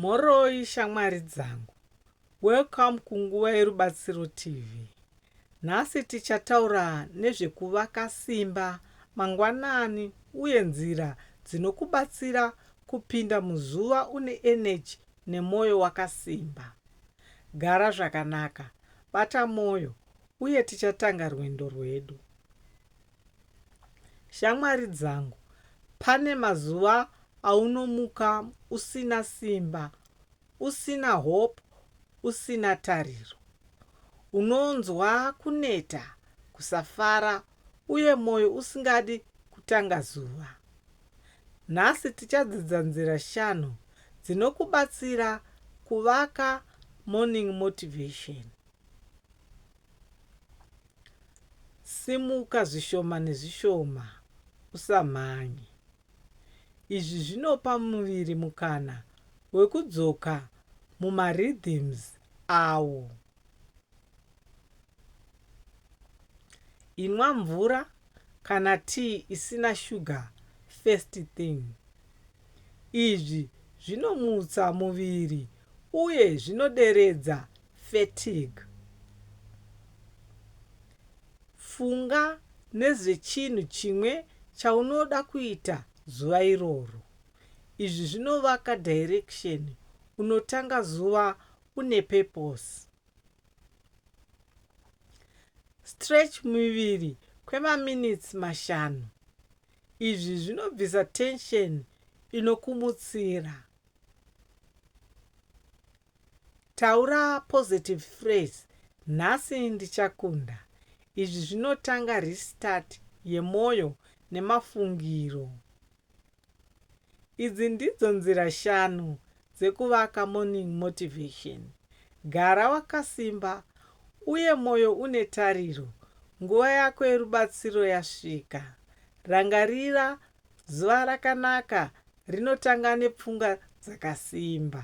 Mhoroi shamwari dzangu. Welcome kuNguva yeRubatsiro TV. Nhasi tichataura nezvekuvaka simba mangwanani uye nzira dzinokubatsira kupinda muzuva une eneji nemwoyo wakasimba. Gara zvakanaka, bata mwoyo, uye tichatanga rwendo rwedu. Shamwari dzangu, pane mazuva aunomuka usina simba, usina hope, usina tariro. Unonzwa kuneta, kusafara uye moyo usingadi kutanga zuva. Nhasi tichadzidza nzira shanu dzinokubatsira kuvaka morning motivation. Simuka zvishoma nezvishoma, usamhanye. Izvi zvinopa muviri mukana wekudzoka mumarhythms awo. Inwa mvura kana tea isina sugar first thing. Izvi zvinomutsa muviri uye zvinoderedza Fatigue. Funga nezvechinhu chimwe chaunoda kuita zuva iroro. Izvi zvinovaka direction unotanga zuva une purpose. Stretch muviri kwemaminitsi mashanu. Izvi zvinobvisa tension inokumutsira. Taura positive phrase nhasi ndichakunda. Izvi zvinotanga restart yemoyo nemafungiro. Idzi ndidzo nzira shanu dzekuvaka morning motivation. Gara wakasimba uye moyo une tariro. Nguva yako yerubatsiro yasvika. Rangarira zuva rakanaka Rinotanga nepfunga dzakasimba.